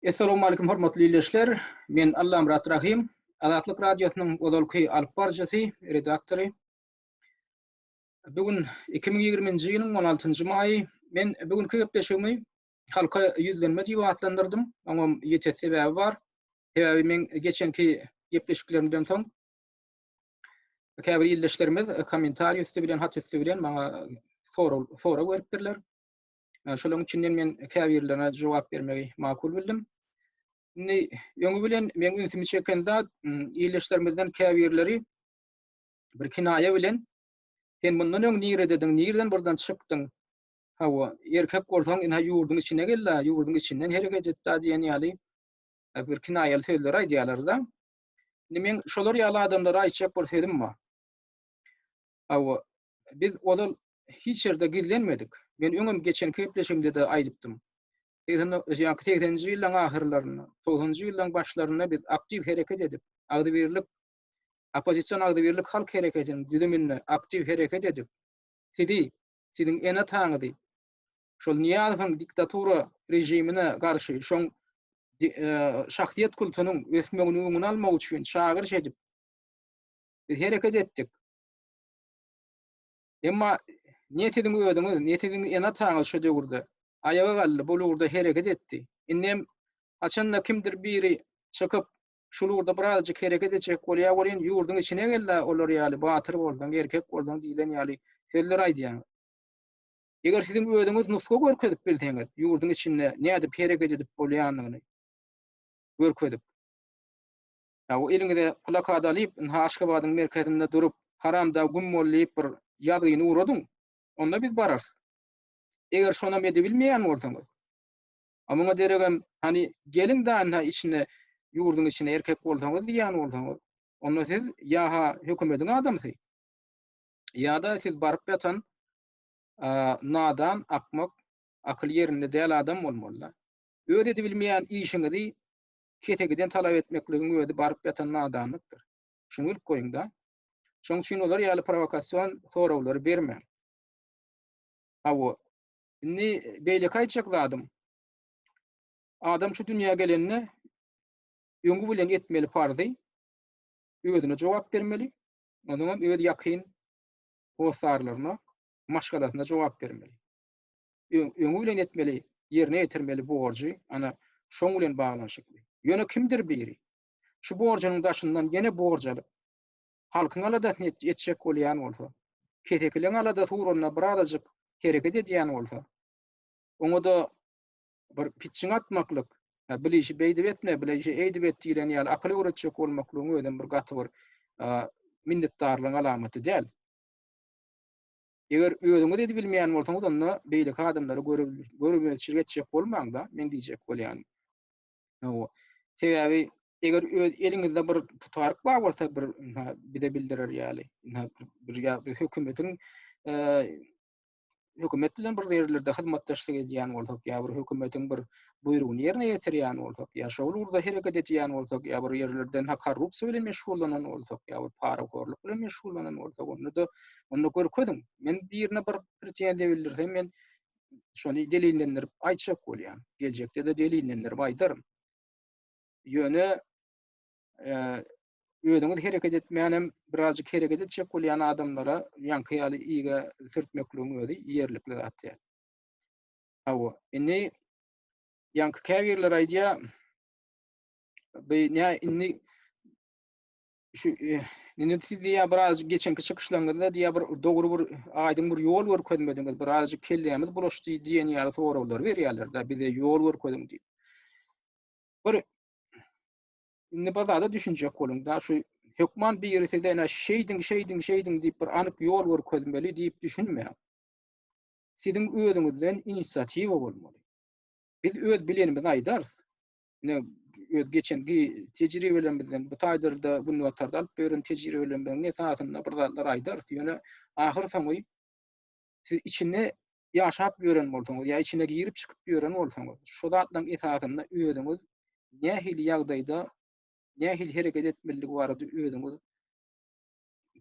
Essalowmalikim hormatly ildeşler. Men Allamyrat Rahym, Azatlyk Radiosynyň ozalky alyp baryjysy, redaktory. Bu gün iki müň ýigrimi-nji ýylyň on altynjy maýy. Men bu günki gepleşigimi Halka ýüzlenme diýip atlandyrdym. Oňam ýiti sebäbi bar. Sebäbi meň geçenki gepleşiklerimden soň käbir ildeşlerimiz kommentariýa üsti bilen, hat üsti bilen maňa sorag sorag beripdirler. Şolaryň içinden men käbirlerine jogap bermegi makul bildim. Indi öňi bilen meň ünsümi çeken zat ildeşlerimizden käbirleri bir kinaýa bilen sen mundan öň niredediň, nireden buradan çykdyň? Hawa, erkek bolsaň, ine ýurduň içine gel-de, ýurduň içinden hereket et-de diýen ýaly e, bir kinaýaly sözleri aýdýarlar-da. Indi men şolar ýaly adamlara aýtjak bir sözüm bar. Hawa, Biz ozal hiç ýerde gizlenmedik. Men öňem geçen gepleşigimde-de aýdypdym. Segsen do, ýaňky segseninji ýyllaryň ahyrlarynda, togsanynjy ýyllaryň başlarynda biz aktiw hereket edip, agzybirlik, oppozision agzybirlik halk hereketiniň düzüminde aktiw hereket edip, sizi, siziň ene-ataňyzy şol Nyýazowyň diktatura režimine garşy şoň di, e, şahsyýet kultunyň ösmeginiň öňüni almak üçin çagyryş edip, biz hereket etdik. Emma ne siziň özüňiz, ne siziň ene-ataňyz şo döwürde aýaga galdy, bul ugurda hereket etdi. Indem haçanda kimdir biri çykyp, şul ugurda birazajyk hereket etjek bolýar welin, ýurduň içine gel-de olar ýaly batyr bolsaň, erkek bolsaň diýlen ýaly sözler aýdýaňyz. Eger siziň özüňiz nusga görkezip bilseňiz, ýurduň içinde nädip hereket edip bolýanyny görkezip, Ýa-u eliňize plakat alyp, ynha Aşgabadyň merkezinde durup, Haramdag güm bol diýip bir ýazgyny ugradyň. Onda biz bararys. Eger şonam edibilmeýän bolsaňyz. A muňa deregem, hany, geliň-de ynha içine, ýurduň içine erkek bolsaňyz diýýän bolsaňyz, onda siz ýa-ha hökümediň adamsy, ýa-da siz baryp ýatan nadan, akmak, akyly ýerinde däl adam bolmaly-da. Öz edibilmeýän işiňizi kesegiden talap etmekligiň özi baryp ýatan nadanlykdyr. Şuny bilip goýuň-da. Şoň üçin olar ýaly prowokasion soraglary bermäň. Hawa, indi beýleki aýtjak zadym, adam şu dünýä gelende öňi bilen etmeli parzy özüne jogap bermeli, onuňam öz ýakyn hossarlaryna, maşgalasyna jogap bermeli. öňi bilen etmeli, ýerine ýetirmeli borjy, ana, şoň bilen baglanyşykly. Ýöne kimdir biri, şu borjunyň daşyndan ýene borj alyp, halkyň aladasyny etjek bolýan bolsa, kesekileň aladasy ugrunda birazajyk hereket edýän bolsa, oňa-da bir pitjiň atmaklyk, hä, bile işi beýdip etme, bile işi eýdip et diýlen ýaly akyl öwretjek bolmaklygyň özem bir gaty bir minnetdarlygyň alamaty däl. Eger özüňiz edibilmeýän bolsaňyz onda beýleki adamlara görmezçilik etjek bolmaňda men diýjek bolýanym. Hawa. Sebäbi eger öz eliňizde bir putaryk bar bolsa bir bize bildirer ýaly. Bir ýa-da hökümetiň hökümet bilen bir ýerlerde hyzmatdaşlyk edýän bolsak ýa bir hökümetiň bir buýrugyny ýerine ýetirýän bolsak, ýa şo ugurda hereket edýän bolsak, ýa bir ýerlerden ha korrupsiýa bilen meşgullanan bolsak, ýa bir parahorlyk bilen meşgullanan bolsak, onda-da, onda görkeziň. Men birine bir pretenziýa bildirsem, men şony delillendirip aýtjak bolýan. Geljekde-de delillendirip aýdaryn. Ýöne özüňiz hereket etmänem birazjyk hereket etjek bolýan adamlara ýaňky ýaly iýge sürtmekligiň özi ýerlikli zat däl. Hawa, indi ýaňky käbirler aýdýar, bu nä indi şu indi siz diýýär biraz geçenki çykyşlaryňyzda diýýär bir dogry bir aýdyň bir ýol görkezmediňiz, biraz kellämiz bulaşdy diýen ýaly soraglar berýärler-de, bize ýol görkeziň diýip. Bir indi bir zada düşünjek boluň da, şu hökman biri size ene şeýdiň, şeýdiň, şeýdiň diýip bir anyk ýol görkezmeli diýip düşünmäň. siziň özüňizden inisiatiwa bolmaly. Biz öz bilenimizi aýdarys. Ine, öz geçen tejribelerimizden, bu taýdyrda, günbatarda alyp beren tejribelerimiziň esasynda bir zatlar aýdarys. Ýöne ahyr soňy siz içinde ýaşap ýören bolsaňyz, ýa içine girip çykyp ýören bolsaňyz, şu zatlaryň esasynda özüňiz nähili ýagdaýda, nähili hereket etmelidigi barada özüňiz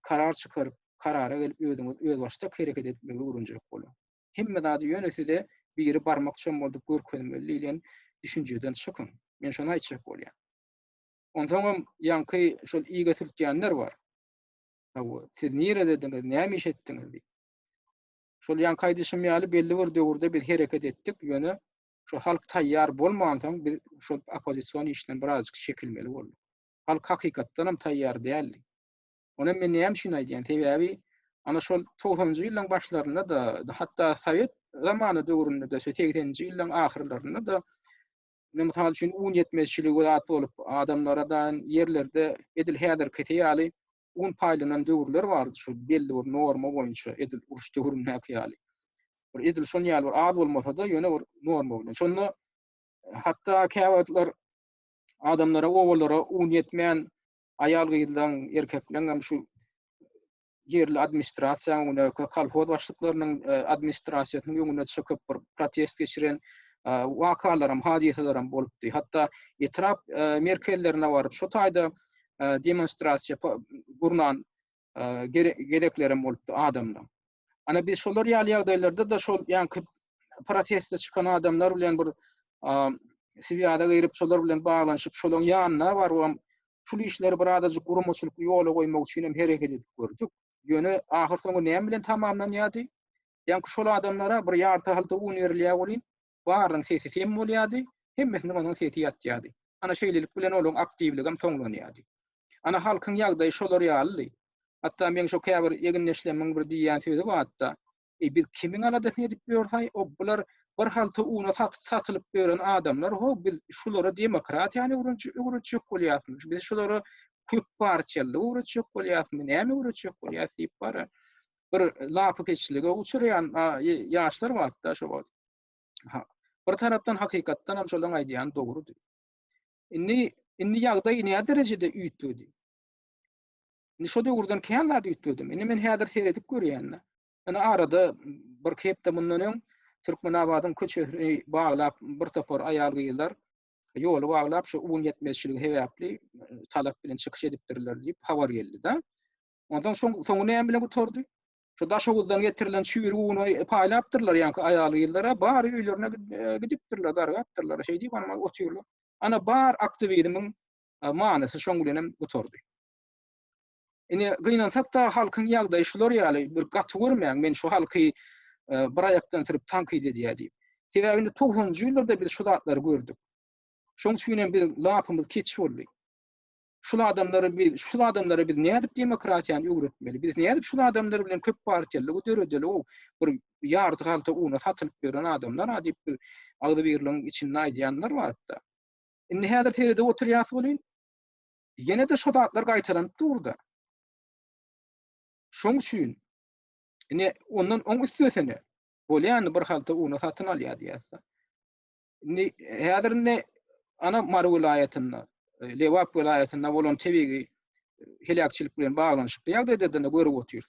karar çykaryp, karara gelip özüňiz özbaşdak hereket etmegi öwrenjelik boluň. Hemme zady ýöne size biri barmak çommaldyp görkezmeli diýlen düşünjeden çykyň. Men şony aýtjak bolýan. Onsoňam ýaňky şol iýge sürtýänler bar. Hawa, siz niredediňiz, näme iş etdiňiz diýip. Şol ýaňky aýdyşym ýaly belli bir döwürde biz hereket etdik, ýöne şu halk taýýar bolmansoň biz şol oppozision işden birazajyk çekilmeli bolduk. Halk hakykatdanam taýýar däldi. Ony men näme üçin aýdýan? Sebäbi ana şol togsanjy ýyllaryň başlarynda-da, hatda sowet zamany döwründe-de, şu segseninji ýyllaryň ahyrlarynda-da ine mysal üçin un ýetmezçiligi we zat bolup, adamlara daýan ýerlerde edil häzirkisi ýaly un paýlanan döwürler bardy şu belli bir norma boýunça edil uruş döwründäki ýaly. Bir edil şon ýaly bir az bolmasa-da ýöne bir norma bilen. Şonda hatda käwagtlar adamlara, obalara un ýetmän, aýal-gyzlaň, erkekleň hem şu ýerli administrasiýanyň öňüne, kolhoz başlyklarynyň administrasiýasynyň öňüne çykyp, bir protest geçiren wakalaram, hadysalaram bolupdy. Hatda etrap merkezlerine baryp, şo taýda demonstrasiýa gurnan gezeklerem bolupdy adamdan. Ana biz şolar ýaly ýagdaýlarda da şol ýanky proteste çykan adamlar bilen bir swiýada girip şolar bilen baglanyşyp şolaň ýanyna baryp hem şul işleri bir azajyk guramaçylyk ýola goýmak üçin hem hereket edip gördük. Ýöne ahyrsoňy näme bilen tamamlanýardy? Ýanky şol adamlara bir ýarty-halta un berilýär welin, Barynyň sesi sem bolýardy, hemmesiniň onuň sesi ýatýardy. Ana şeýlelik bilen olaň aktiwligem soňlanýardy. Ana halkyň ýagdaýy şolar ýalydy. Hatda meň şo käbir egindeşlemiň bir diýýän sözi bardy-da, Eý, biz kimiň aladasyny edip ýörsay, o bular bir halta una satylyp ýören adamlar, ho, biz şulara demokratiýany öwretjek bolýasmy, biz şulara köpparçylygy öwretjek bolýasmy, näme öwretjek bolýas diýip bara. bir lapykeçlige uçurýan ýaşlar bardy-da şo wagt. Bir tarapdan hakykatdan hem şolaryň aýdýany dogrudy. Indi indi ýagdaý näme derejede üýtgedi? Indi şo döwürden kän zat üýtgedi. Indi men häzir seredip görýän-de. Indi arada bir hepde mundan öň Türkmenabadyň köçesini baglap bir topar aýal-gyzlar ýoly baglap şu un ýetmezçiligi sebäpli talap bilen çykyş edipdirler diýip habar geldi-de. Ondan soň soňy näme bilen gutardy? Şu Daşoguzdan getirilen çüýrü uny paýlapdyrlar ýaňky aýal-gyzlara, bar öýlerine e, gidipdirler, dargapdyrlar. Şeýdi bana otyrlar. Ana bar aktiwizmiň e, manysy şoň bilen hem gutardy. Ine gynansak da halkyň ýagdaýy şular ýaly bir gaty görmäň men şu halky e, bir aýakdan sürüp tankyt edýär diýip. Sebäbi indi 90-njy ýyllarda biz şu zatlary gördük. Şoň üçin hem biz lapymyz keç boldy. şul adamlary biz, şul adamlara biz nädip demokratiýany öwretmeli? Biz nädip şul adamlar bilen köp partiýalygy döredeli? O bir ýarty galta una satylyp ýören adamlar ha diýip bir agzybirligiň içinde aýdýanlar barda. Indi häzir seredip oturýas welin, ýene-de şo zatlar gaýtalanyp durda. Şoň üçin ine ondan oň üstesine bolýany bir halta una satyn alýar diýýärse. Indi häzir indi ana Mary welaýatynda, e, Lebap welaýatynda bolan tebigy heläkçilik bilen baglanyşykly ýagdaýda da görüp otyrys.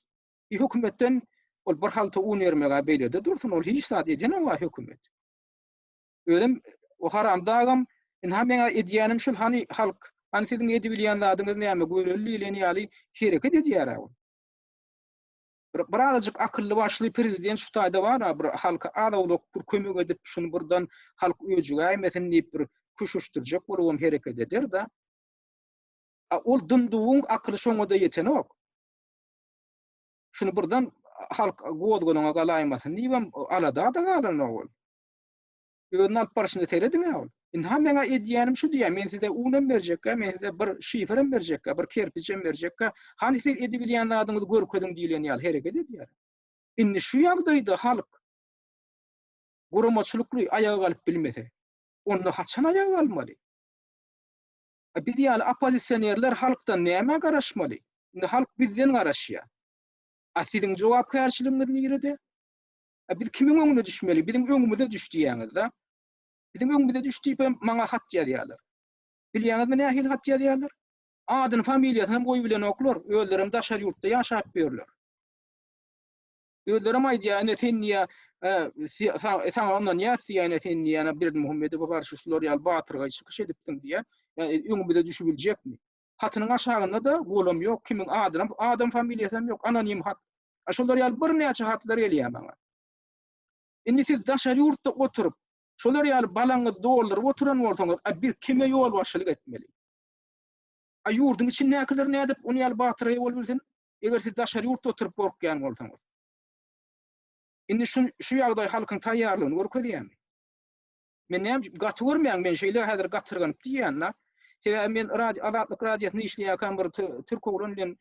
Bir hökümetden ol bir halta un bermegä beýlede dursun, ol hiç zat eden owa hökümet. Özüm o haram dagam, inha meňa edýänim şul hani halk, hani siziň edip bilýän zadyňyz näme göreli diýlen ýaly hereket edýär ol. Bir birazajyk akylly başly prezident şu taýda bar, bir halka az-owlak bir kömek edip, şuny birden halk öjügäýmesin diýip bir küşüşdirjek bolubam hereket eder-de. A ol dynduwyň akyly şoňa-da ýetenok. Şuny birden halk gozgalaňa galaýmasyn diýibem alada-da galanok ol. Özüni alyp barşyny serediň-ä ol. Indi ha meň edýänim şu diýýä, men size unam berjekkä, men size bir şiferem berjekkä, bir kerpiçem berjekkä, hany siz edibilýän zadyňyzy görkeziň diýlen ýaly hereket edýär. Indi şu ýagdaýda halk guramaçylykly aýaga galyp bilmese, onda haçan aýaga galmaly? A biz ýaly oppozisionerler halkdan nämä garaşmaly? Indi halk bizden garaşýar. A siziň jogapkärçiligiňiz nirede? Biz kimiň öňüne düşmeli? Biziň öňümize düş diýýäňiz-de. Biziň öňümize düş diýip hem maňa hat ýazýarlar. Bilýäňizmi nähili hat ýazýarlar? Adyny, familiýasyny hem goýubilenoklar. Özleri hem daşary ýurtda ýaşap ýörler. Özleri hem aýdýar, ine sen diýýär, saňa ynanýas diýýär, ine sen diýýär, Berdimuhamedowa garşy şular ýaly batyrgaý çykyş edipsiň diýýär. Ýa öňümize düşübiljekmi? Hatynyň aşagynda-da golam ýok, kimiň adynam, adam familiýasynam ýok, anonim hat. A şolar ýaly birnäçe hatlar gelýär maňa. Indi siz daşary ýurtda oturyp, şolar ýaly balaňyzy dolduryp oturan bolsaňyz, a biz kime ýolbaşçylyk etmeli? A ýurduň içindäkiler nädip ony ýaly batyrgaý bolup bilsin, eger siz daşary ýurtda oturyp gorkýan bolsaňyz? Indi şu ýagdaý halkyň taýýarlygyny görkezýärmi? Men näme gaty görmäň men şeýle häzir gatyrganyp diýýän-la. Sebäbi men Azatlyk radiosynda işleýärkäm bir türk oglan bilen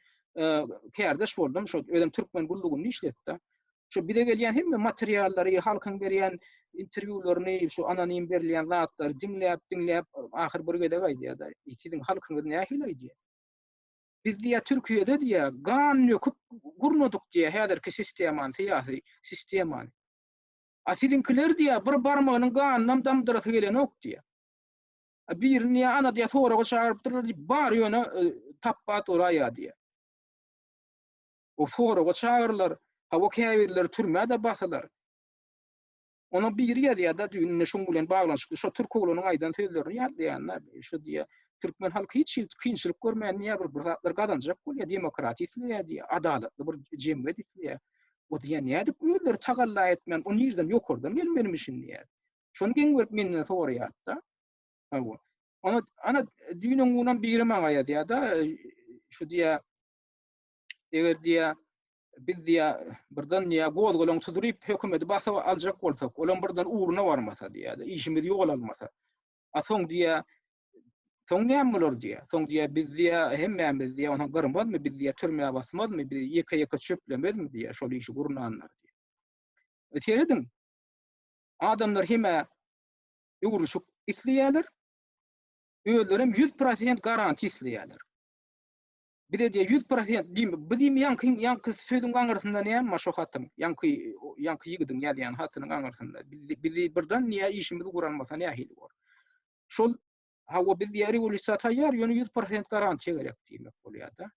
kärdeş boldum, şo özem türkmen gullugynda işledi-de. Şo bize gelýän hemme materiallary, halkyň berýän interwýularyny, şu anonim berilýän zatlary diňläp, diňläp, ahyr bir gezek aýdýar-da, Siziň halkyňyz nähili aýdýar? Biz diýýär, Türkiýede diýýär, gan döküp gurnadyk diýýär häzirki sistemany, syýasy sistemany. A siziňkiler diýýär, bir barmagynyň ganynam damdyrasy gelenok diýýär. A birini diýýär, ana diýýär, soraga çagyrypdyrlar diýip, bar ýöne e, tapbat uraýýar diýýär. O soraga çagyrylar, hawa käbirleri türmäde basylar. Ona biri ýazýar-da düýn ine şuň bilen baglanyşykly şu türk oglanyň aýdan sözlerini ýatlaýanda şu diýýär, türkmen halky hiç hili kynçylyk görmän diýýär, bir, bir zatlar gazanjak bolýar, demokratiýa isleýär diýýär, adalatly bir jemgyýet isleýär. O diýýär, nädip özleri tagalla etmän, o nirden ýokardan gelmelimişin diýýär. Şony geň berip menden soraýardy-da. Hawa. Ana, ana düýnüň günüň biri maňa ýazýar-da, şu diýýär, eger diýýär, biz diýýär, birden diýýär, gozgalaň tuduryp, hökümeti basyp aljak bolsak, olam birden ugruna barmasa diýýär-de, işimiz ýol almasa. A soň diýýär, Soň näme bolar diýýär. Soň diýýär, biz diýýär, hemmämiz diýýär, ony gyrmazmy, biz diýýär, türmä basmazmy, biz ýeke-ýeke çöplemezmi diýýär, şol işi gurnanlar diýýär. E, serediň, adamlar hemä öwrüşik isleýärler, özleri hem 100% garantiýa isleýärler. Bize diýýär 100% diýme, biz diýme ýaňky ýaňky sözüň aňyrsynda näme bar şo hatyň, ýaňky ýaňky ýigidiň ýazýan hatynyň aňyrsynda. Bizi birden niýe işimiz guralmasa nähili bor. şol hawa biz diýýär rewolýusiýa taýýar, ýöne ýüz prosent garantiýa gerek diýmek bolýar-da.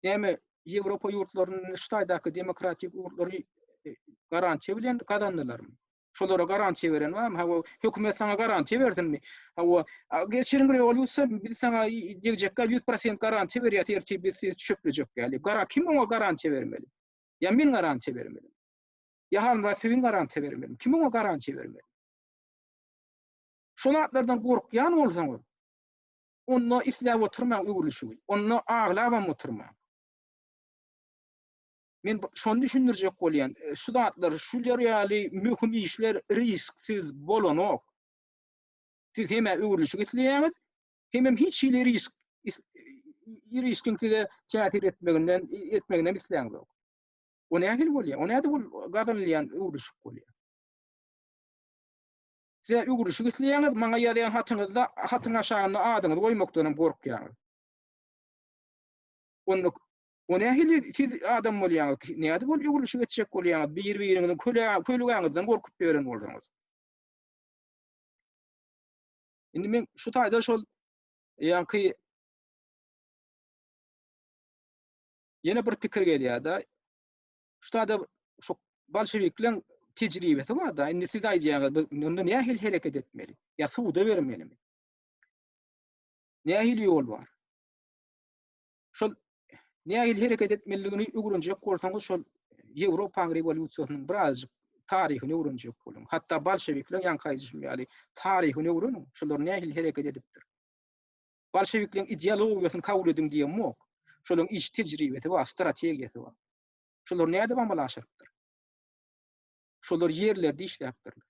Näme Ýewropa ýurtlaryny, Hytaýdaky demokratik ýurtlary e, garantiýa bilen gazandylarmy? Şolara garantiýa beren barmy? Hawa, hökümet saňa garantiýa bersinmi? Hawa, geçiriň rewolýusiýa, biz saňa degjekkä ýüz prosent garantiýa berýäs, ertir biz sizi çöplejek ýaly. Gara kim oňa garantiýa bermeli? Ýa men garantiýa bermeli? Ýa Hanmyrat Söýün garantiýa bermeli? Kim oňa garantiýa bermeli? Şol zatlardan gorkýan bolsaňyz, onda isläp oturmaň öwrülişigi, onda aglabam oturmaň. Men şony düşündirjek bolýan, şu zatlar, şular ýaly möhüm işler risksiz bolanok. Siz hem-ä öwrülişik isleýäňiz, hemem hiç hili risk riskiň size täsir etmeginden etmegini hem isläňizok. O nähili bolýar? O näde bol gazanylýan öwrülişik bolýar? Size öwrülişik isleýäňiz, maňa ýazýan hatyňyzda hatyň aşagynda adyňyzy goýmakdanam gorkýaňyz. Onda O nähili siz adam bolýaňyz? Nädip ol öwrülişik etjek bolýaňyz? Bir-biriňiziň kölegäňizden gorkup ýören bolsaňyz. Indi men şu taýda şol ýaňky ýene bir pikir gelýär-de. Şutada şu bolşewikleriň tejribesi bar-da, indi siz aýdýaňyz, biz onda nähili hereket etmeli? Ýa suwda bermelimi? Nähili ýol bar? Şol nähili hereket etmeliligini öwrenjek bolsaňyz, şol Ýewropanyň rewolýusiýasynyň birazjyk taryhyny öwrenjek boluň. Hatda bolşewikleriň ýaňky aýdyşym ýaly taryhyny öwreniň, şolar nähili hereket edipdir. Bolşewikleriň ideologiýasyny kabul ediň diýen bok. Şolaryň iş tejribesi bar, strategiýasy bar. Şolar nädip amala aşyrypdyr? Şolar ýerlerde işläpdirler.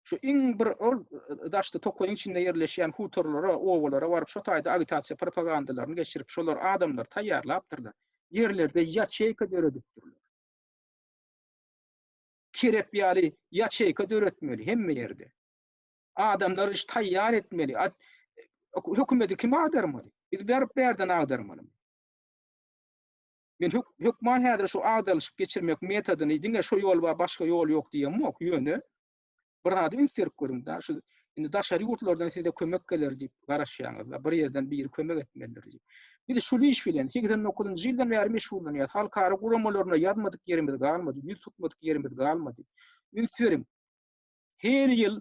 Şu iň bir ol daşda tokaýyň içinde ýerleşýän hutorlara, obalara baryp şo taýda agitasiýa propagandalaryny geçirip, şolar adamlary taýýarlapdyrlar. Ýerlerde ýaçeýka döredipdirler. Kerep ýaly ýaçeýka döretmeli hemme ýerde. Adamlary şu taýýar etmeli. Hökümeti kim agdarmaly? Biz berip berden agdarmaly. Men hök hökman häzir şu agdalyşyp geçirmek metodyny diňe şu ýol we başga ýol ýok diýen ýok. Ýöne bir zady üns berip görüň da şu indi daşary ýurtlardan size kömek geler diýip garaşýaňyz da bir ýerden biri kömek etmelidir diýip. Biz şu iş bilen 89-njy ýyldan bäri meşgullanýas. Halkara guramalaryna ýazmadyk ýerimiz galmady, ýüz tutmadyk ýerimiz galmady. Üns beriň. Her ýyl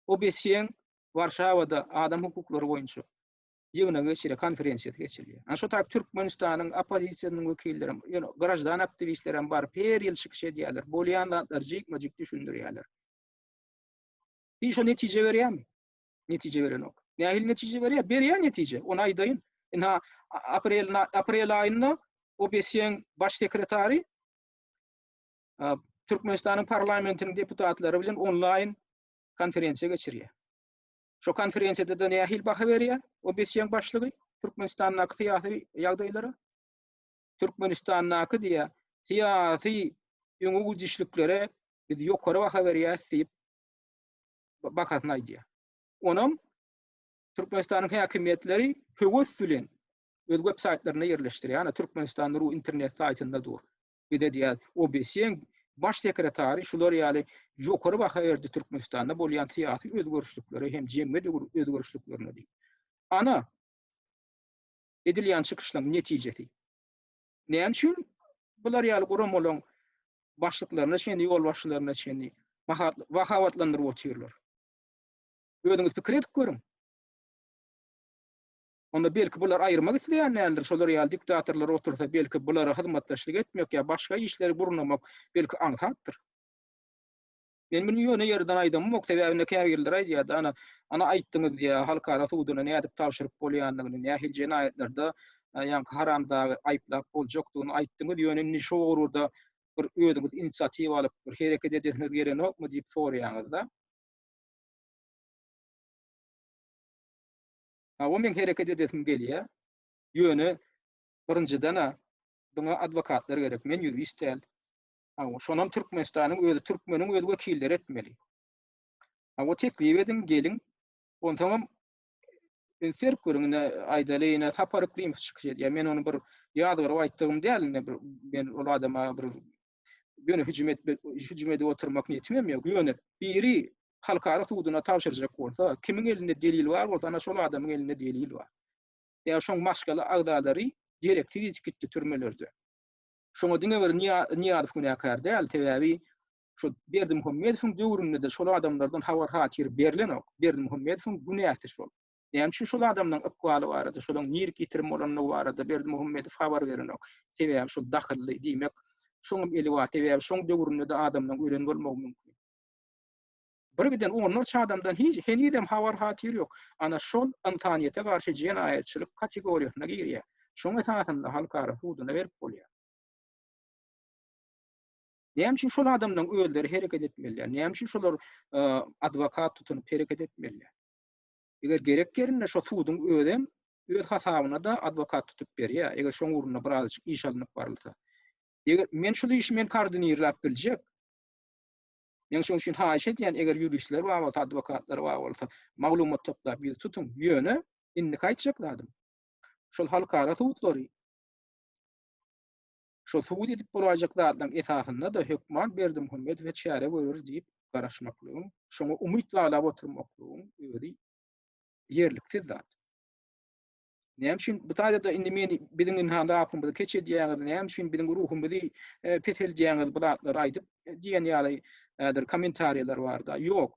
OBSE-iň Warşawada adam hukuklary boýunça ýygnagy geçirýär, konferensiýasy geçirilýär. Ana şo taýyp Türkmenistanyň oppozisiýasynyň wekillerem, ýöne graždan aktiwistlerem baryp her ýyl çykyş edýärler, bolýan zatlary jikme-jik düşündirýärler. Bi şo netije berýärmi? Netije berenok. Nähili netije berýär? Berýär netije, ony aýdaýyn. Indi ha aprel aprel aýynda OBSE-iň baş sekretary Türkmenistanyň parlamentiniň deputatlary bilen onlaýn konferensiýa geçirýär. Şu konferensiýada-da nähili baha berýär OBSE-iň başlygy Türkmenistandaky syýasy ýagdaýlara? Türkmenistandaky diýýär, syýasy öňe gidişliklere biz ýokary baha berýäris diýip bakasyny aýdýar. Onam Türkmenistanyň häkimiýetleri höwes bilen öz websaýtlarynda ýerleşdirýär. Ýa Türkmenistan.ru internet saýtynda dur. Bize diýýär, OBSE-iň Baş sekretary şular ýaly ýokary baha berdi Türkmenistanda bolýan syýasy özgerişliklere hem jemgyýet özgerişliklerine diýip. Ana, edilýän çykyşlaryň netijesi. Näme üçin bular ýaly guramalaryň başlyklaryna çenli, ýolbaşçylaryna çenli mahabatlandyryp otyrlar? Özüňiz pikir edip görüň. Onda belki bular aýyrmak isleýän däldir, şolar ýaly diktatorlar otursa belki bulara hyzmatdaşlyk etmek ýa başga işleri gurnamak belki aňsatdyr. Men muny ýöne ýerden aýdamok, sebäbi indi käbirleri aýdýardy, ana, ana aýtdyňyz diýýär, halkara suduna nädip tabşyryp bolýandygyny, nähili jenaýatlarda ýaňky haramdagy aýyplap boljakdygyny aýtdyňyz, ýöne indi şu ugurda bir özüňiz inisiatiwa alyp bir hereket edesiňiz gelenokmy diýip soraýaňyz-da. Hawa, meň hereket edesim gelýär. Ýöne, birinjiden-ä, buňa adwokatlar gerek. Men ýurist däl. Hawa, şonam Türkmenistanyň özi, türkmeniň öz wekilleri etmeli. Hawa, teklip ediň, geliň. Onsoňam, indi serip görüň, ine, aýdaly, ine, Sapar Yklymov çykyş edýär. Men ony bir ýazgaryp aýtdygym däl, ine, bir, men ol adama bir ýöne hüjüm etmek, hüjüm edip oturmak niýetim hem ýok. Ýöne biri halkara suduna tabşyrjak bolsa, kimiň elinde delil bar bolsa, ana şol adamyň elinde delil bar. Ýa şoň maşgala agzalary dereksiz ýitip gitdi türmelerde. Şoňa diňe bir Niýazow günäkär däl, sebäbi şu Berdimuhamedowyň döwründe-de şol adamlardan habar-hatyr berlenok. Berdimuhamedowyň günäsi şol. Näme üçin şol adamlaryň ykbaly barada, şolaryň nirki ýitirim bolandygy barada Berdimuhamedow habar berenok? Sebäbi şol dahylly, diýmek, şoňam eli bar, sebäbi şoň döwründe-de adamlaryň ölen bolmagy mümkin. Birgiden onlarça adamdan hiç, henizem habar-hatyr ýok. Ana, şol ynsanyýete garşy jenaýatçylyk kategoriýasyna girýär. Şoň esasynda halkara suduna berip bolýar. Näme üçin şol adamlaryň özleri hereket etmelidir? Näme üçin şolar adwokat tutunyp hereket etmelidir? Eger gerek ýerinde şo suduň özem öz hasabyna-da adwokat tutup berýär, eger şoň ugrunda birazajyk iş alnyp barylsa. Eger men şul işi men koordinirläp biljek. Men şoň üçin haýyş edýän, eger ýuristler bar bolsa, adwokatlar bar bolsa, maglumat toplap ýüz tutuň. Ýöne, indiki aýtjak zadym, şol halkara sudlary, Şo subut edip bolaýjak zatlaryň esasynda-da hökman Berdimuhamedowa çäre görer diýip garaşmaklygyň, şoňa umyt baglap oturmaklygyň özi ýerliksiz zat. Näme üçin bu taýda-da indi meni biziň indi hany apamyzy keç edýäňiz, näme üçin biziň ruhumyzy peseldýäňiz bu zatlary aýdyp diýen ýaly häzir kommentariýalar bar-da. Ýok.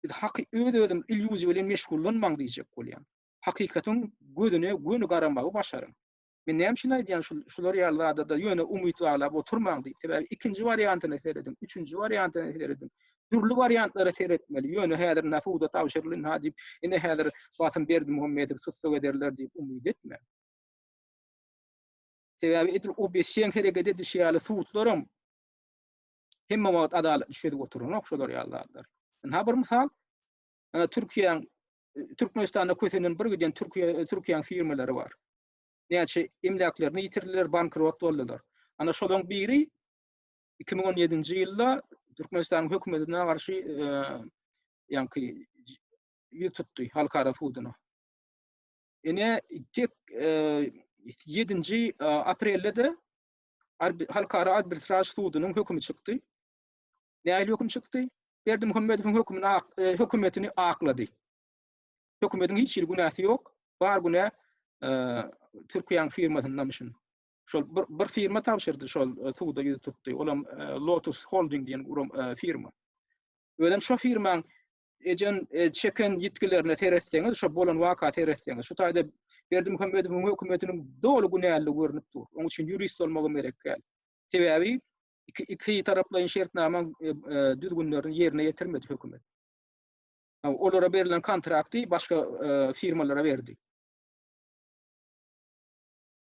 Biz haky öz-özüm illýuziýa bilen meşgullanmaň diýjek bolýan. Hakykatyň gözüne göni garamagy başaryň. Men näme üçin aýdýan şul şular ýaly zadada ýöne umyt baglap oturmaň diýip. Sebäbi ikinji wariantyna serediň, üçünji wariantyna serediň. Dürli wariantlara seretmeli. Ýöne häzir na suda tabşyrylyn ha diýip, ine häzir basym Berdimuhamedowy tussag ederler diýip umyt etmäň. Sebäbi edil OBSJ-iň hereket edişi ýaly sudlaram hemme wagt adalat düşedip oturanok şular ýaly zatlar. Ynha bir mysal. Ana Türkiýäň Türkmenistanda kösenden bir giden Türkiýe Türkiýäň firmalary bar. Näçe emläklerini ýitirdiler, bankrot boldular. Ana şolaň biri 2017-nji ýylda Türkmenistanyň hökümetine garşy e, ýaňky ýüz tutdy halkara suduna. Ene tek 7-nji e, e, aprelde de halkara arbitraž sudunyň hökümi çykdy. Nähili höküm çykdy? Berdimuhamedowyň hökümini hökümetini aklady. Hökümetiň hiç hili günäsi ýok. Bar günä Türkiýäň firmasyndan şun. Şol bir, bir firma tabşyrdy şol suwda ýüz tutdy. Olam Lotus Holding diýen gurum firma. Özem şo firmaň ejen çeken ýitgilerine seretseňiz, şo bolan waka seretseňiz, şu taýda Berdimuhamedowyň hökümetiniň doly günäli görnüp dur. Onuň üçin ýurist bolmagam gerek däl. Sebäbi iki iki taraplaýyn şertnama e, e, düzgünlerini ýerine ýetirmedi hökümet. Olara berilen kontrakty başga e, firmalara berdi.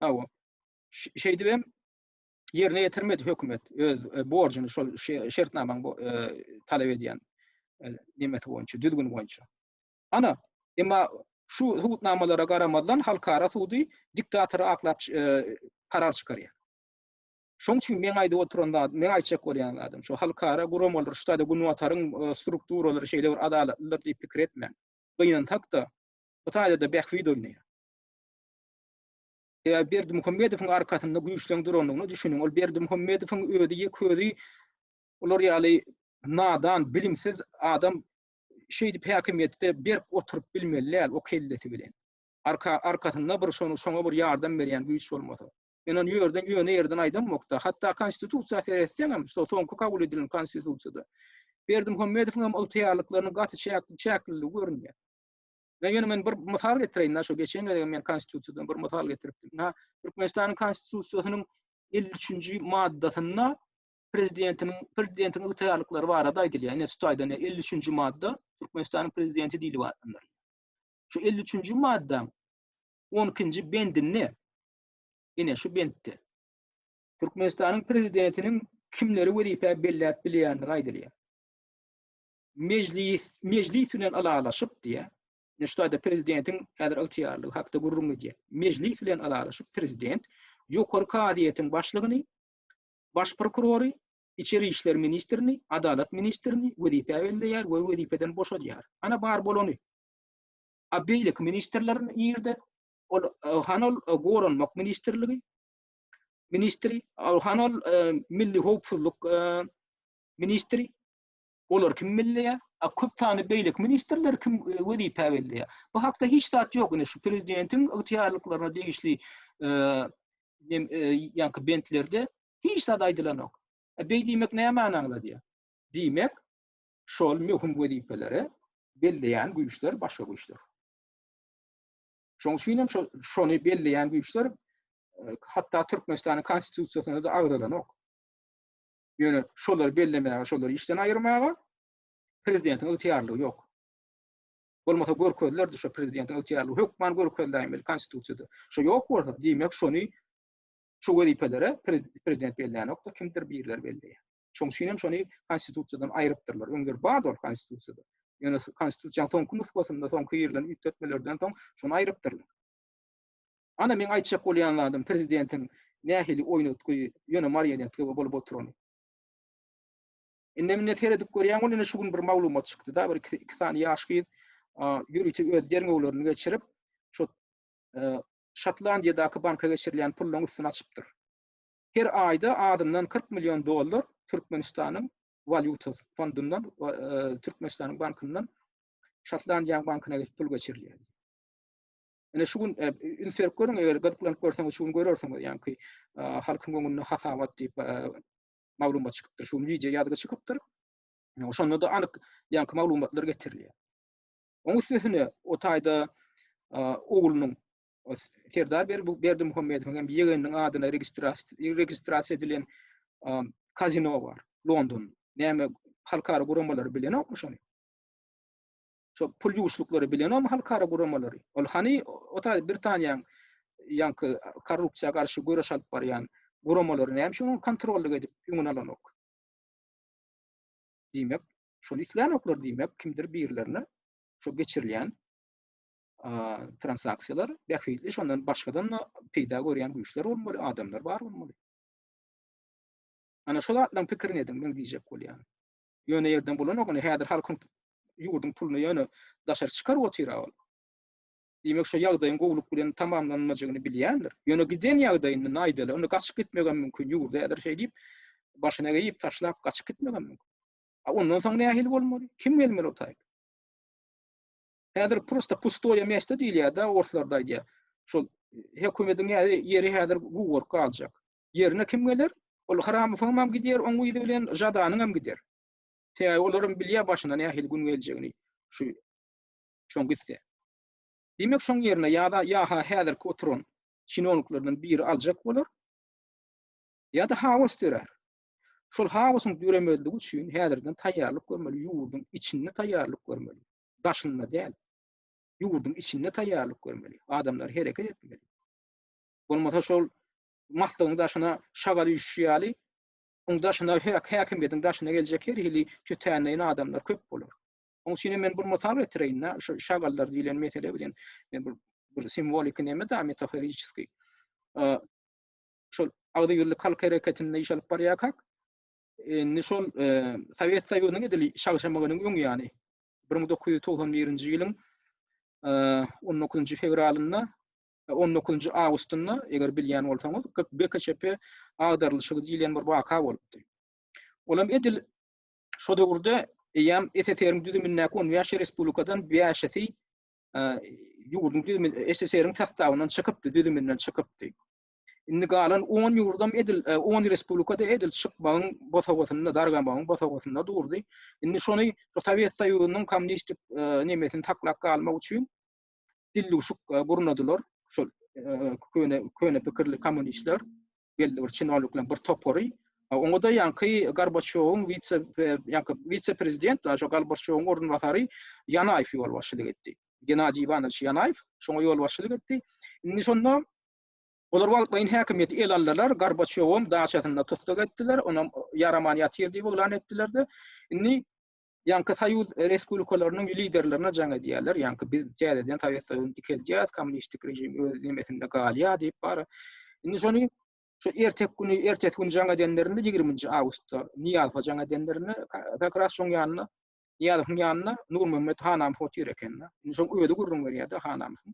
Awa. Şeýdip hem ýerine ýetirmedi hökümet öz borjuny şol şertnamaň talap edýän nemesi boýunça, düzgün boýunça. Ana, emma şu hukuknamalara garamazdan halkara sudy diktator aklap karar çykarýar. Şoň üçin meň aýdyp oturan zadym, meň aýtjak bolýan zadym şu, halkara guramalar, şuda-da Günbataryň strukturalary şeýle bir adalatlydyr diýip pikir etmäň. Gynansak-da, bu taýda-da bähbit oýnaýar. Sebäbi Berdimuhamedowyň arkasynda güýçleň durandygyna düşüniň. Ol Berdimuhamedowyň özi ýeke özi olar ýaly nadan, bilimsiz adam şeýdip häkimiýetde berk oturyp bilmeli däl o kellesi bilen. Arka, arkasynda bir şoňa bir ýardam berýän güýç bolmasa. Men ony ýörden ýöne ýerden aýdammok-da. Hatda Konstitusiýa seretseňem, şo soňky kabul edilen Konstitusiýada Berdimuhamedowyň hem ygtyýarlyklarynyň gaty çäkliligi görünýär. Men ýöne men bir mysal getireýin-de, şo geçen gezegem men Konstitusiýadan bir mysal getiripdim. Ha, Türkmenistanyň Konstitusiýasynyň elli üçünji maddasynda prezidentiniň prezidentiň ygtyýarlyklary barada aýdylýar. Ine, şu taýdan elli üçünji madda Türkmenistanyň prezidenti diýlip atlandyrylýar. Şu elli üçünji maddaň on ikinji bendinde ine şu bentde Türkmenistanyň prezidentiniň kimleri wezipä belläp bilýändigi aýdylýar. Mejlis, mejlis bilen ylalaşyp diýýär. Ine şu taýda prezidentiň häzir ygtyýarlygy hakda gürrüň edýär. Mejlis bilen ylalaşyp prezident Ýokary kazyýetiň başlygyny, baş prokurory, içeri işler ministrini, adalat ministrini wezipä belleýär we wezipeden boşadýar. Ana bar bolany. A beýleki ministrler nirde? Ol han ol goranmak ministrligi ministri, han ol milli howpsuzlyk ministri. Olar kim bilýär? A köp sany beýleki ministrler kim e, wezipä berilýär? Bu hakda hiç zat ýok. Ine şu prezidentiň ygtyýarlyklaryna degişli e, e, ýaňky bentlerde hiç zat aýdylan ýok. E, beý diýmek näme aňladýar? Diýmek, şol möhüm wezipeleri belleýän güýçler başga güýçler. Şoň üçin hem şony belleýän güýçler e, hatda Türkmenistanyň konstitusiýasyna da agzalanok. Ýöne şolary bellemäge, şolary işden aýyrmaga prezidentiň ygtyýarlygy ýok. Bolmasa görkezlerdi şu prezidentiň ygtyýarlygy hökman görkezläýmeli konstitusiýada. Şu ýok bolsa, diýmek şony şu wezipelere prezident belleýänokda kimdir birler belleýär. Şoň üçin hem şony Konstitusiýadan aýrypdyrlar. Öňler bardy ol Konstitusiýada. Ýöne Konstitusiýanyň soňky nusgasynda, soňky girilen üýtgetmelerden soň şony aýrypdyrlar. Ana meň aýtjak bolýan zadym prezidentiň nähili oýnatgy, ýöne marionetka bolup oturany. Indem-inde seredip görýän ol indi şu gün bir maglumat çykdy-da, bir iki sany ýaş gyz ýörite öz derňewlerini geçirip, şu Şotlandiýadaky banka geçirilýän pullaryň üstüni açypdyr. her aýda azyndan kyrk million dollar Türkmenistanyň walýuta fondundan we Türkmenistanyň bankyndan Şotlandiýanyň bankyna geçip pul geçirilýär. Ine şu gün üns berip görüň, eger gyzyklanyp görseňiz, şu gün görersiňiz, ýaňky halkyň öňünde hasabat diýip maglumat çykypdyr. Şu gün wideo ýazgy çykypdyr. Şonda-da anyk ýaňky maglumatlar getirilýär. Oň üstesine o taýda oglunyň Serdar Berdimuhamedowyň hem ýegeniniň adyna registrasiýa edilen kazino bar, London. Näme halkara guramalary bilenokmy şony? Şo pul ýuwuşlyklary bilenokmy halkara guramalary? Ol hany ota Britaniýanyň ýaňky korrupsiýa garşy göreş alyp barýan guramalary näme üçin kontrollyk edip öňüni alanok? Diýmek, şony islänoklar diýmek, kimdir birilerine şo geçirilýän transaksiýalar bähbitli, şondan başgadan peýda görýän güýçler bolmaly, adamlar bar bolmaly. Ana şu zatlaryň pikirini ediň, men diýjek bolýan. Ýöne ýerden bolanok, ine häzir halkyň ýurduň puluny ýöne daşary çykaryp otyra ol. Diýmek, şu ýagdaýyň gowulyk bilen tamamlanmajagyny bilýändir. Ýöne giden ýagdaýynda naýdaly, onda gaçyp gitmek hem mümkin, ýurdy häzir şeý diýip, başyna geýip taşlap gaçyp gitmek hem mümkin. A ondan soň nähili bolmaly? Kim gelmeli o taýy? Häzir prosta pustoýe mesta diýilýär-de, orslarda aýdýar. Şol hökümediň ýeri, ýeri häzir guwurk galjak. Ýerine kim geler? Ol Hramofowyň hem gidýär, oň yzy bilen Žadanyň hem gider. Sebäbi olar hem bilýär başyna nähili gün geljegini şu şoň gitse. Diýmek, şoň ýerine ýa-da ýa-ha häzirki oturan çinowniklerden biri aljak bolar, ýa-da haos dörär. Şol haosyň döremezligi üçin häzirden taýýarlyk görmeli, ýurduň içinde taýýarlyk görmeli. daşynda däl, ýurduň içinde taýýarlyk görmeli, adamlar hereket etmeli. Bolmasa şol maslygyň daşyna şagal üýşüşi ýaly, oň daşyna häkimiýetiň daşyna geljek her hili tötänleýin adamlar köp bolar. Oň üçin hem men bir mysal getireýin-dä, şu şagallar diýlen mesele bilen men bir bir simwoliki neme-dä, metaforiçeski. Şol agzybirlik halk hereketinde iş alyp barýarkak, Indi şol Sowet Soýuzynyň edil şagşamagynyň öň ýany 1991-nji ýylyň 19-njy fewralynda 19-njy awgustynda eger bilýän bolsaňyz GKÇP agdarylyşygy diýilýän bir waka bolupdy. Olam edil şo döwürde eýýäm SSR-iň düzümindäki 15 respublikadan 5-si ýurduň düzüminde SSR-iň sastavyndan çykypdy, düzüminden çykypdy. Indi galan on ýurdam edil, e, on respublikada edil çykmagyň bosagasynda, dargamagyň bosagasynda durdy. Indi şony şu Sowet Soýuzynyň kommunistik e, nemesini saklap galmak üçin dilluşuk e, gurnadylar. Şol köne köne pikirli kommunistler belli bir çinownikler bir topary Oňa da ýanky Gorbaçýowyň wise ýanky wise prezident da şu Gorbaçýowyň orunbasary Ýanaýew ýolbaşçylyk etdi. Genadiý Iwanowiç Ýanaýew şoňa ýolbaşçylyk etdi. Indi şonda Olar wagtlaýyn häkimiýeti ele aldylar, Gorbaçýowam daçasynda tussag etdiler, onam ýaraman ýatyr diýip yglan etdiler-de, indi ýaňky Soýuz respublikalarynyň liderlerine jaň edýärler, ýaňky biz täzeden Sowet Soýuzyny dikeldýäs, kommunistik režim öz nemesinde galýar diýip bara. Indi şony şu erteki güni, ertesi gün jaň edenlerinde, ýigriminji awgustda Nyýazowa jaň edenlerinde, kak ras şoň ýanyna, Nyýazowyň ýanyna Nurmämmet Hanamyhow otyr eken-de. Indi şoň özi gürrüň berýär-de, Hanamyhow.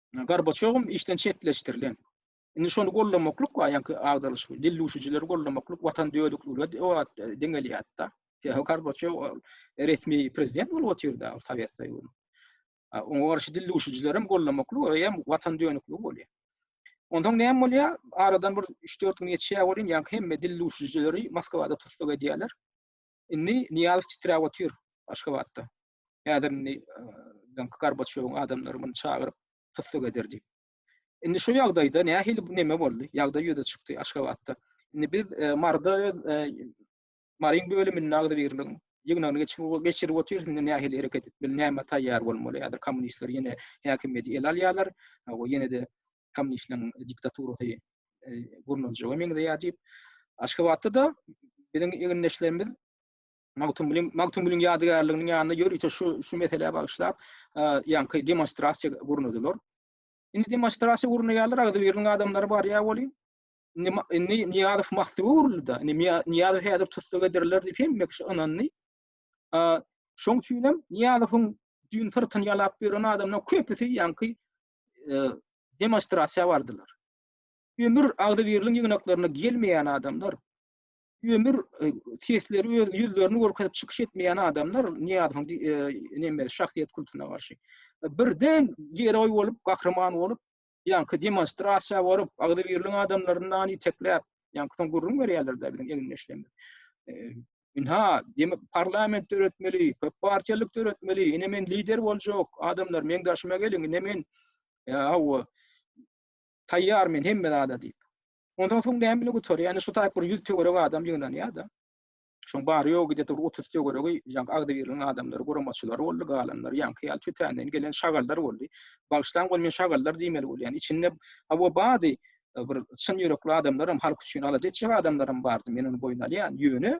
Gorbaçýowym işden çetleşdirilen. Indi şony gollamaklyk bar, ýaňky agdalyş, dil duşujileri gollamaklyk watan dödükligine o wagt deňelýärdi-da. Ýa Gorbaçýow resmi prezident bolup otyrda Sowet Soýuzynyň. Oňa garşy dil duşujilerem gollamaklyk, o hem watan dönükligi bolýar. Ondan näme bolýar? Aradan bir 3-4 gün geçýär welin, ýaňky hemme dil duşujileri Moskwada tussag edýärler. Indi Nyýazow titräp otyr Aşgabatda. Häzir indi öňki Gorbaçýowyň adamlary muny çagyryp, tussag eder diýip. Indi şu ýagdaýda nähili bu neme boldy? Ýagdaý ýüze çykdy Aşgabatda. Indi biz e, Marda öz e, Maryň bölüminde agzybirligiň ýygnagyny geçirip geçirip otyrys. Indi nähili hereket etmeli, näme taýýar bolmaly? Häzir kommunistler ýene häkimiýeti ele alýarlar. Bu ýene-de kommunistleriň diktaturasy e, gurnaljaga meňzeýär diýip. Aşgabatda da biziň egindeşlerimiz Magtymguly Magtymgulyň ýadygärliginiň ýanyna ýörite şu şu meselä bagyşlap ýaňky demonstrasiýa gurnadylar. Indi demonstrasiýa gurnaýarlar, agzy biriniň adamlary barýar weli. Indi indi Niýazow mahsuba uruldy-da. Indi Niýazow häzir tussag ederler diýip hemme kişi ynandy. Şoň üçin hem Niýazowyň düýn syrtyny ýalap ýören adamlar köpüsi ýaňky demonstrasiýa bardylar. Ömür agzy biriniň ýygnaklarynda gelmeýän adamlar ömür e, sesleri öz ýüzlerini görkezip çykyş etmeýän adamlar Niýazowyň e, näme şahsyýet kultuna garşy e, birden geroý bolup, gahryman bolup, ýaňky demonstrasiýa bolup, agzybirligiň adamlaryndan itekläp, ýaňky soň gürrüň berýärler-de biziň eginleşlerimiz. Ynha, demek parlament döretmeli, köp partiýalyk döretmeli, ine men lider boljak, adamlar meň daşyma geliň, ine men aw taýýar men hemme zada diýip. Ondan soň näme bilen gutarýar? Ýani şu taýyp bir ýüz töwerek adam ýygnanýar-da. Şoň bary-ýogy diýe bir otuz töweregi ýaňky agzybirligiň adamlary, guramaçylary boldy, galanlary ýaňky ýaly tötänden gelen şagallar boldy. Bagyşlaň ol men şagallar diýmeli bolýan. Içinde hawa bady bir çyn ýürekli adamlaram, halk üçin alaja etjek adamlaram bardy. Men ony boýun alýan. Ýöne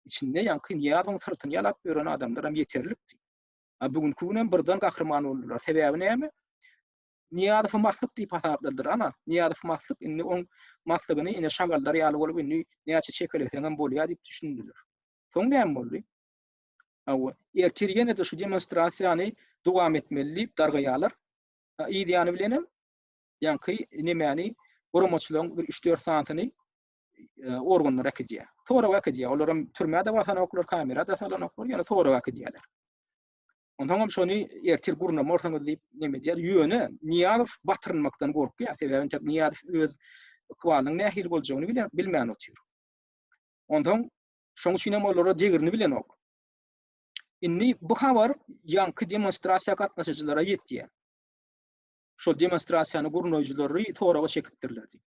içinde ýaňky Nyýazowyň syrtyny ýalap ýören adamlaram ýeterlikdi. A bu günki günem birden gahryman boldular. Sebäbi näme? Niýazowy maslyk diýip hasapladylar, ana, Niýazow maslyk, indi oň maslygyny ine şagallar ýaly bolup indi näçe çekeleseňem bolýar diýip düşündiler. Soň näme boldy? Hawa, ertir ýene-de şu demonstrasiýany dowam etmeli diýip dargaýarlar. Yz ýany bilen hem ýaňky nemäni guramaçylaryň bir üç-dört sanysyny e, organlar äkidýär. Sorag äkidýär. Olar hem türmä-de basanoklar, kamera-da salanoklar, ýöne sorag äkidýärler. Onsoňam şony ertir gurnamarsyňyz diýip neme edýär. Ýöne Nyýazow batyrynmakdan gorkýar. Sebäbi entek Nyýazow öz ykbalynyň nähili boljagyny bilen bilmän otyr. Onsoň şoň üçin hem olara degirini bilenok. Indi bu habar ýaňky demonstrasiýa gatnaşyjylara ýetýär. Şol demonstrasiýany gurnaýjylary soraga çekipdirler diýip.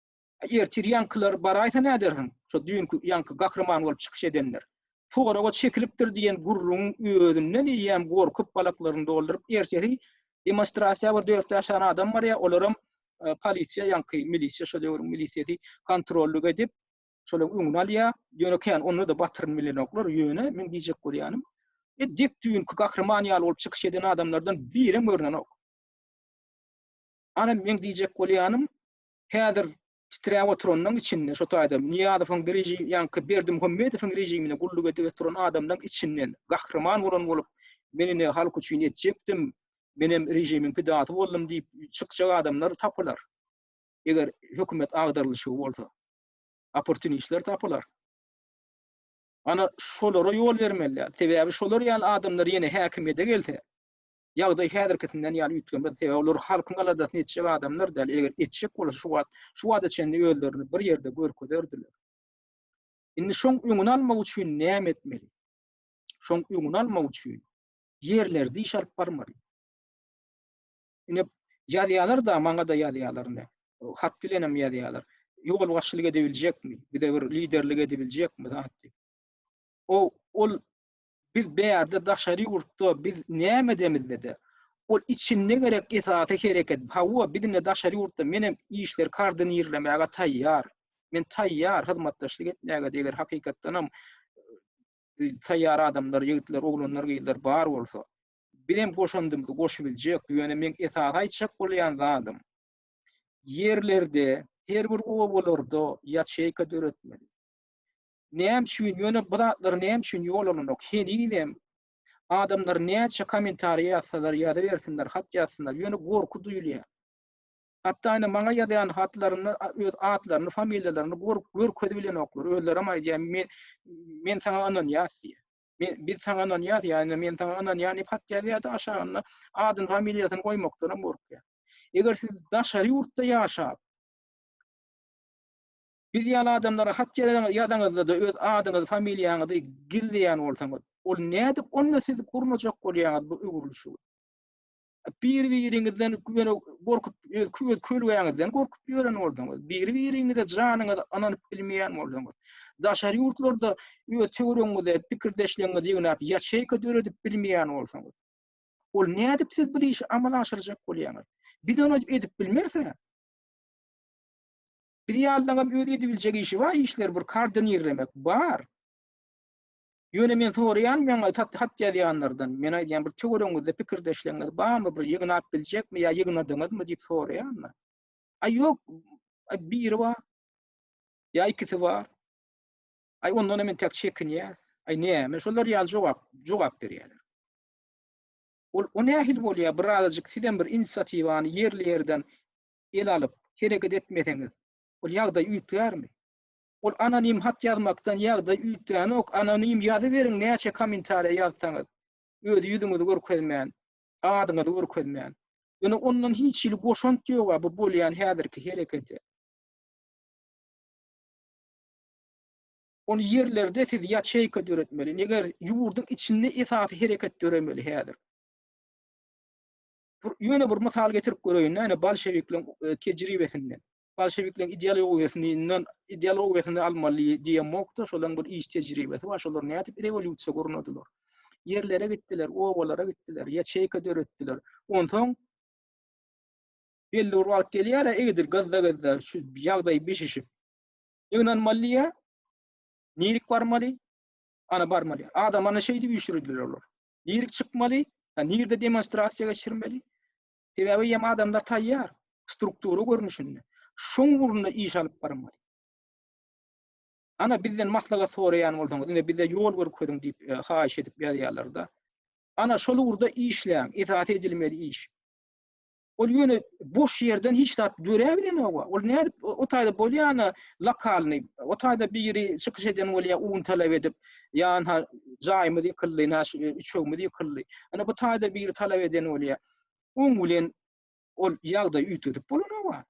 Ertir ýaňkylar baraýsa nädersiň? Şo düýnki ýaňky gahryman bolup çykyş edenler. Soraga çekilipdir diýen gürrüňiň özünden eýýäm gorkup balaklaryny dolduryp ertesi demonstrasiýa bir dört bäş sany adam barýar olaram polisiýa ýaňky milisiýa şo döwrüň milisiýasy kontrollyk edip şolaryň öňüni alýar ýöne kän onda-da batyryn bilenoklar ýöne meň diýjek bolýanym e dek düýnki gahryman ýaly bolup çykyş eden adamlardan birem görnenok ana meň diýjek bolýanym häzir titräp oturanyň içinde, şo taýdan Nyýazowyň režimi, ýaňky Berdimuhamedowyň režimine gulluk edip oturan adamlaryň içinden gahryman bolan bolup, men indi halk üçin etjekdim, menem režimiň pidasy boldum diýip çykjak adamlar tapylar. Eger hökümet agdarylyşy bolsa, opportunistler tapylar. Ana, şolara ýol bermeli däl. Sebäbi şolar ýaly adamlar ýene häkimiýete gelse, Ýagdaý häzirkisinden ýaly üýtgemez, sebäbi olar halkyň aladasyny etjek adamlar däl, eger etjek bolsa şu wagt, şu bada çenli özlerini bir ýerde görkezerdiler. Indi şoň öňüni almak üçin näme etmeli? Şoň öňüni almak üçin ýerlerde iş alyp barmaly. Ine ýazýarlar da, maňa da ýazýarlar ine. Hat bilen hem ýazýarlar. Ýol başçylyk edebiljekmi? Bize bir liderlik edebiljekmi? O ol Biz bärde daşary ýurtda biz näme edemizde-de ol içinde gerek esasy hereket hawa bizinde daşary ýurtda menem işleri kardinirlemäge taýýar. Men taýýar hyzmatdaşlyk etmäge-de eger hakykatdanam taýýar adamlar ýigitler oglanlar gyzlar bar bolsa. Bizem goşandymyzy goşubiljek ýöne meň esasy aýtjak bolýan zadym ýerlerde her bir obalarda ýaçeýka döretmeli. Näme üçin ýöne bu zatlar näme üçin ýol alynok henizem adamlar näçe kommentariýa ýazsalar ýazybersinler hat ýazsynlar ýöne gorky duýulýar. Hatda ine maňa ýazýan hatlarynda öz atlaryny familiýalaryny gork görkezi bilenoklar özlerem aýdýar men men saňa ynanýas diýýär. Men biz saňa ynanýas ýa-da men saňa ynanýan diýip hat ýazýar-da aşagynda adyny familiýasyny goýmakdanam gorkýar. Eger siz daşary ýurtda ýaşap Biz ýaly adamlara hat ýazanyňyzda-da öz adyňyzy, familiýaňyzy gizleýän bolsaňyz, ol nädip onda siz gurnajak bolýaňyz bu öwrülişigi? Bir-biriňizden ýöne gorkup, öz kölgäňizden gorkup ýören bolsaňyz, bir-biriňize janyňyzy ynanyp bilmeýän bolsaňyz, daşary ýurtlarda öz töweregiňize pikirdeşleriňizi ýygnap ýaçeýka döredip bilmeýän bolsaňyz, ol nädip siz bu işi amala aşyrjak bolýaňyz? Biz ony edip bilmeris-ä. Biz ýalylaňam öz edibiljek işi bar işler bir kardinirlemek bar. Ýöne men soraýan maňa hat ýazýanlardan men aýdýan bir töweregiňizde pikirdeşleriniz barmy bir ýygnap biljekmi ýa ýygnadyňyzmy diýip soraýan men. Aý ýok biri bar. Ýa ikisi bar. Aý ondan men täk çekinýän. Aý näme şolar ýaly jogap jogap berýärler. Ol o nähili bolýar bir azajyk sizem bir inisiatiwany ýerli ýerden el alyp, hereket etmeseňiz, ol ýagdaý üýtgärmi? Ol anonim hat ýazmakdan ýagdaý üýtgänok, anonim ýazyberiň näçe kommentariýa ýazsaňyz, öz ýüzüňizi görkezmän, adyňyzy görkezmän. Ýöne ondan hiç hili goşant ýoga bu bolýan häzirki herekete. Ol ýerlerde siz ýaçeýka döretmeli, neger ýurduň içinde esasy hereket döremeli häzir. ýöne bir mysal getirip göreýin, näme bolşewikleriň e, tejribesinden. Bolşewikleriň ideologiýasyndan, ideologiýasyny almaly diýen mokda, şolaryň bir iş tejribesi bar, şolar nädip rewolýusiýa gurnadylar. Ýerlere gitdiler, obalara gitdiler, ýaçeýka döretdiler. Onsoň belli bir wagt gelýär, egidir gazda-gazda şu ýagdaý bişişip, ýygnanmaly ýa, nirik barmaly, ana barmaly. Adam ana şeýdip üýşürdiler olar. Nirek çykmaly? Ýa nirde demonstrasiýa geçirmeli? Sebäbi ýem adamlar taýýar, struktura görnüşinde. Şoň ugrunda iş alyp barmaly. Ana bizden maslahat soraýan bolsaňyz, indi bize ýol görkeziň diýip e, haýyş edip ýazýarlar-da. Ana şol ugurda işläň, esasy edilmeli iş. Ol ýöne boş ýerden hiç zat döräbilenok. Ol nädip o taýda bolýana lokalny, o taýda biri çykyş eden bolýa un talap edip, ýa-ha jaýymyz ýykyldy, ýa şu üçegimiz ýykyldy. Ana bu taýda biri talap eden bolýa. Oň bilen ol ýagdaýy üýtgedip bolanok.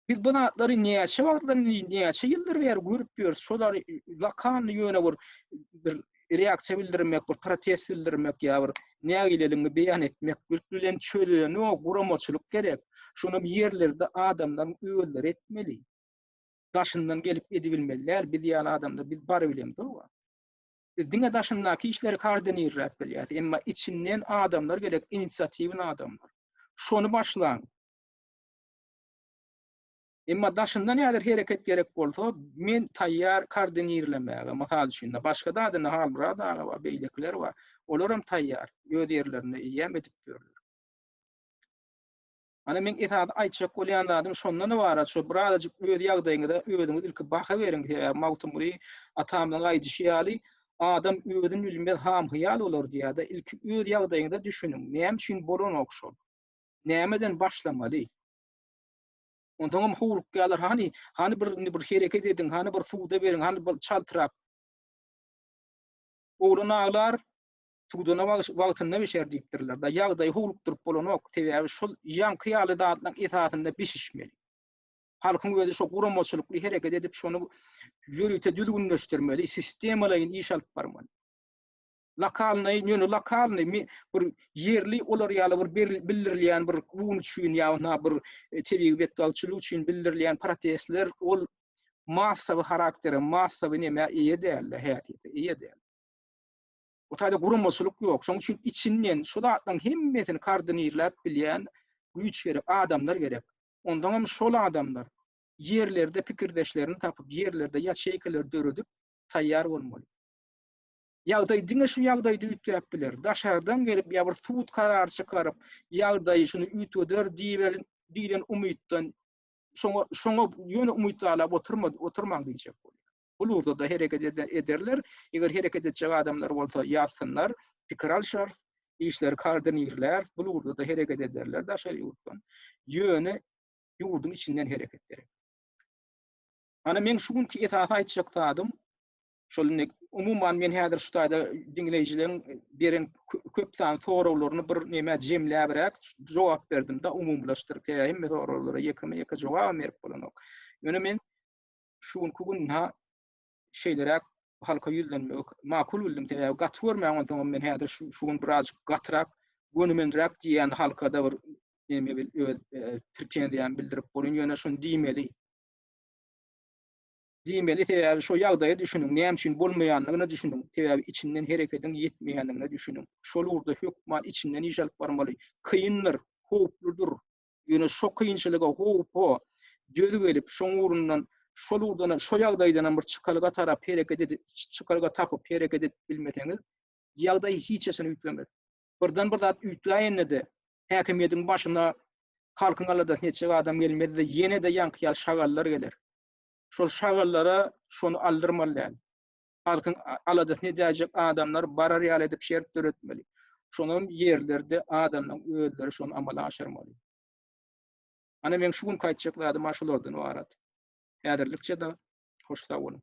Biz bu zatlary näçe wagtdan, näçe ýyldyr bäri görüp ýörüs, şolary lokalny ýöne bir bir reaksiýa bildirmek, bir protest bildirmek ýa bir nägileligiňi beýan etmek bilen çözenok, guramaçylyk gerek. Şonam ýerlerde adamlaryň özleri etmeli. Daşyndan gelip edibilmeli däl, biz ýaly adamlar biz bar bilemizok. Biz diňe daşyndaky işleri koordinirläp bilýäs, emma içinden adamlar gerek, inisiatiwny adamlar. Şony başlaň. Emma daşynda näder hereket gerek bolsa, men taýýar koordinirlemäge. Mysal üçin-de, başga zady indi Halmyrat aga bar, beýlekiler bar. Olaram taýýar, öz ýerlerinde eýýäm edip ýörler. Ana, meň esasy aýtjak bolýan zadym şondan ybarat, şo bir azajyk öz ýagdaýyňyza özüňiz ilki baha beriň. Sebäbi Magtymguly atamyzyň aýdyşy ýaly, Adam özün bilmez, ham-hyýal bolar diýýär-de, ilki öz ýagdaýyňyza düşüniň. Näme üçin bolanok şol? Nämeden başlamaly? Onsoňam howlukýarlar, hany, hany bir indi bir hereket ediň, hany bir suwda beriň, hany bir çaltrak. Oglan aglar, suwdana wagtynda bişer diýipdirler. Da ýagdaýy howlukdyryp bolanok, sebäbi şol ýaňky ýaly zatlaryň esasynda bişişmeli. Halkyň özi şo guramaçylykly hereket edip, şony ýörite düzgünleşdirmeli, sistemalaýyn iş alyp barmaly. Lokalnyý, ýöne lokalnyý, me, bir ýerli olar ýaly bir ber bildirilýän bir run üçin ýa na bir tebigy betbagtçylyk üçin bildirilýän protestler ol massawy haraktere, massawy nämä eýe däldi, häsiýete eýe däl. Bu taýda guramaçylyk ýok. Şonuň üçin içinden şu zatlaryň hemmesini koordinirläp bilýän güýç gerek, adamlar gerek. Onsoň hem şol adamlar ýerlerde pikirdeşlerini tapyp, ýerlerde ýaçeýkalar döredip taýýar bolmaly. Ýagdaý diňe şu ýagdaýda üýtgäp biler. Daşardan gelip ýa bir sud karar çykaryp, ýagdaýy şuny üýtgeder diýiber diýlen umytdan şoňa şoňa ýöne umyt baglap oturma oturmaň diýjek bolýar. Bul ugurda-da hereket ederler. Eger hereket etjek adamlar bolsa ýazsynlar, pikir alşarys, işleri koordinirläris, bul ugurda-da hereket ederler daşary ýurtdan. Ýöne ýurduň içinden hereket gerek. Ana meň şu günki esasy aýtjak zadym Şol indi umuman men häzir şu taýda diňleýjileriň beren köp sanly soraglaryny bir näme jemläbräk jogap berdim-de umumylaşdyryp sebäbi hemme soraglara ýekeme-ýeke jogabam berip bolanok. Ýöne men şu günki gün ha şeýleräk halka ýüzlenmek makul bildim sebäbi gaty görmäň onsoňam men häzir şu şu gün birazjyk gatyrak gönümenräk diýýän halkada bir näme bil öz e, pretenziýamy bildirip bolýan ýöne şuny diýmeli Diýmeli sebäbi şo ýagdaýa düşüniň, näme üçin bolmaýandygyna düşüniň, sebäbi içinden herekediň ýetmeýändigine düşüniň. Şol ugurda hökman içinden iş alyp barmaly. Kyndyr, howpludyr. Ýöne şo kynçylyga, howpa döz gelip, şoň ugrundan şol ugurdanam, şo ýagdaýdanam bir çykalga tarap hereket edip, çykalga tapyp hereket edip bilmeseňiz, ýagdaý hiç haçan üýtgemez. Birden bir zat üýtgäýende-de, häkimiýetiň başyna halkyň aladasyny etjek adam gelmez-de, ýene-de ýaňky ýaly şagallar geler. Şol şagallara şony aldyrmaly däl. Halkyň aladasyny edäýjek adamlar barar ýaly edip şert döretmeli. Şonam ýerlerde adamlaryň özleri şony amala aşyrmaly. Ana meň şu günki aýtjak zadym şulardan ybarat. Häzirlikçe-de hoş sag boluň.